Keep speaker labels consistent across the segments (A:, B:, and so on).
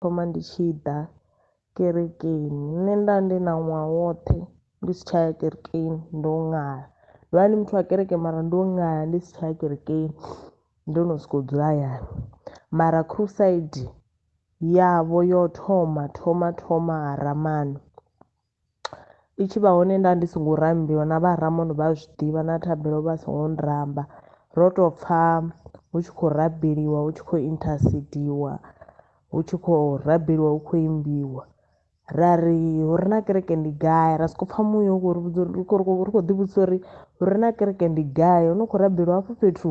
A: thoma ndi tshi ḓa kerekeni nṋe nda ndi na ṅwaha woṱhe ndi si tsha ya kerekeni ndo ṅala ndo vha ndi muthu wa kereke mara ndo ṅala ndi si tsha ya kerekeni ndo no soko dzula hayani mara khusaidi yavho yo thoma thoma thoma ha Rammani i tshi vha hone nda ndi songo rambiwa na vha Ramon vha a zwiḓivha na thabelo vha songo nramba ro to pfha hu tshi khou rabeliwa hu tshi khou intercediwa hu tshi khou rabeliwa hu khou imbiwa ra ri hu re na kereke ndi gai ra soko pfha muya u khou ri vhudza uri ri khou ri khou ri khou ḓi vhudzisa uri hu re na kereke ndi gai hu no khou rabeliwa hafho fhethu.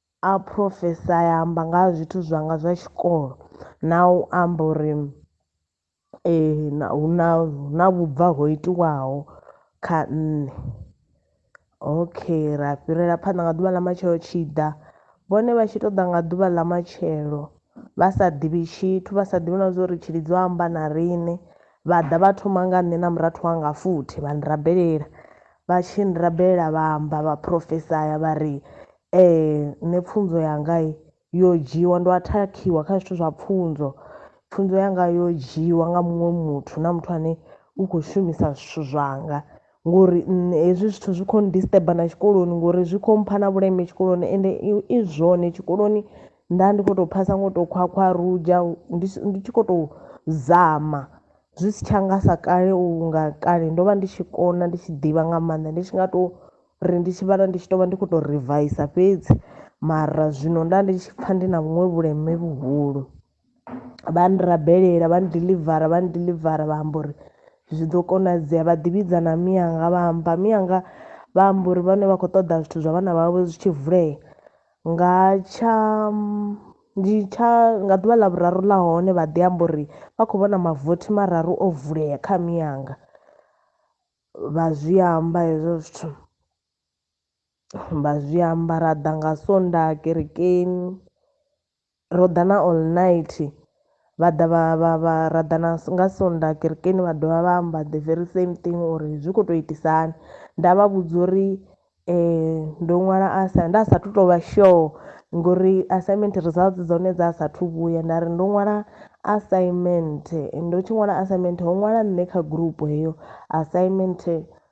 A: A phurofesaya, a amba nga ha zwithu zwanga zwa tshikolo na u amba uri hu na hu na vhubva ho itiwaho kha nṋe. Okay, ra fhirela phanḓa nga ḓuvha ḽa matshelo tshi ḓa vhone vha tshi to ḓa nga ḓuvha ḽa matshelo vha sa ḓivhi tshithu vha sa ḓivhi na zwa uri Tshilidzi o amba na riṋe vha ḓa vha thoma nga nṋe na murathu wanga futhi vha ni rabelela vha tshi ni rabelela vha amba vha phurofesaya vha ri Ee nṋe pfunzo yanga yo dzhiwa ndo athakhiwa kha zwithu zwa pfunzo pfunzo yanga yo dzhiwa nga muṅwe muthu na muthu ane u kho shumisa zwithu zwanga ngori nṋe hezwi zwithu zwi kho disturb na tshikoloni ngori zwi kho mpha na vhuleme tshikoloni ende i zwone tshikoloni nda ndi kho to phasa ngo to khwakhwa rudzha ndi ndi tshi kho to zama zwi si tsha nga sa kale unga kale ndo vha ndi tshi kona ndi tshi ḓivha nga maanḓa ndi tshi nga to. ri ndi tshi vhala ndi tshi tovha ndi kho to rivaisa fhedzi mara zwino nda ndi tshi pfha ndi na vhuṅwe vhuleme vhuhulu vha nrabelela vha ndiḽivara vha ndiḽivara vha amba uri zwi ḓo konadzea vha ḓivhidza na miyanga vha amba miyanga vha amba uri vhane vha khou ṱoḓa zwithu zwa vhana vhavho zwi tshi vulea nga tsha ndi tsha nga ḓuvha ḽa vhuraru ḽa hone vha ḓi amba uri vha khou vhona mavothi mararu o vulea kha miyanga. Vha zwi amba hezwo zwithu vha zwi amba ra ḓa nga sonḓaha kerekeni ro ḓa na all night vha ḓa vha vha vha ra ḓa na nga sonḓaha kerekeni vha dovha vha amba the very same thing uri zwi kho to itisa hani nda vha vhudza uri Ndo ṅwala asa nda sa thu to vha sure ngori assignment results dza hone dza sathu vhuya nda ri ndo ṅwala assignment ndo tshi ṅwala assignment ho ṅwala nṋe kha gurupu heyo assignment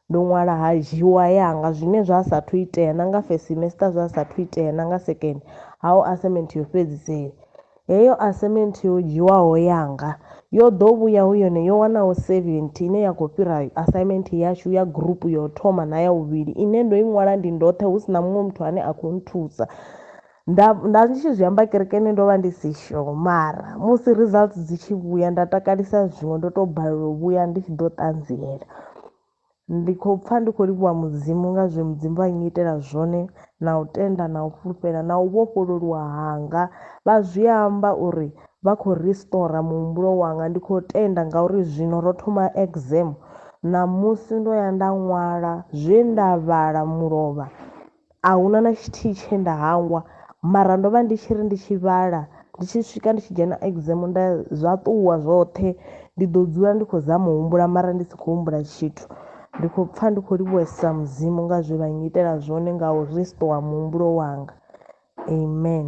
A: ndo ṅwala ha dzhiwa yanga zwine zwa sa thu itea na nga first semester zwa sa thu itea na nga second hau assignment yo fhedzisela. Heyo assignment yo dzhiwaho yanga yo ḓo vhuya hu yone yo wanaho 70 ine ya khou fhira assignment yashu ya gurupu ya u thoma na ya vhuvhili ine ndo i ṅwala ndi ndoṱhe hu si na muṅwe muthu ane a khou nthusa. Nda, nda ndi tshi zwi amba kerekeni ndo vha ndi si sure mara musi results dzi tshi vhuya nda takalisa zwiṅwe ndo tou balelwa u vhuya ndi tshi ḓo ṱanziela. Ndi khou pfa ndi khou livhuwa Mudzimu nga zwe Mudzimu vha nnyitela zwone, na u tenda, na u fhulufhela, na u vhofhololuwa hanga. Vha zwi amba uri vha khou ristora muhumbulo wanga. Ndi khou tenda ngauri zwino ro thoma exam. Ṋamusi ndo ya nda ṅwala zwe nda vhala mulovha. A hu na na tshithihi tshe nda hangwa mara ndo vha ndi tshi ri ndi tshi vhala ndi tshi swika ndi tshi dzhena exam nda zwa ṱuwa zwoṱhe ndi ḓo dzula ndi khou zama u humbula mara ndi si khou humbula tshithu. Ndi khou pfha ndi khou livhuwesa mudzimu nga zwe vha nnyitela zwone nga u restore muhumbulo wanga. Amen.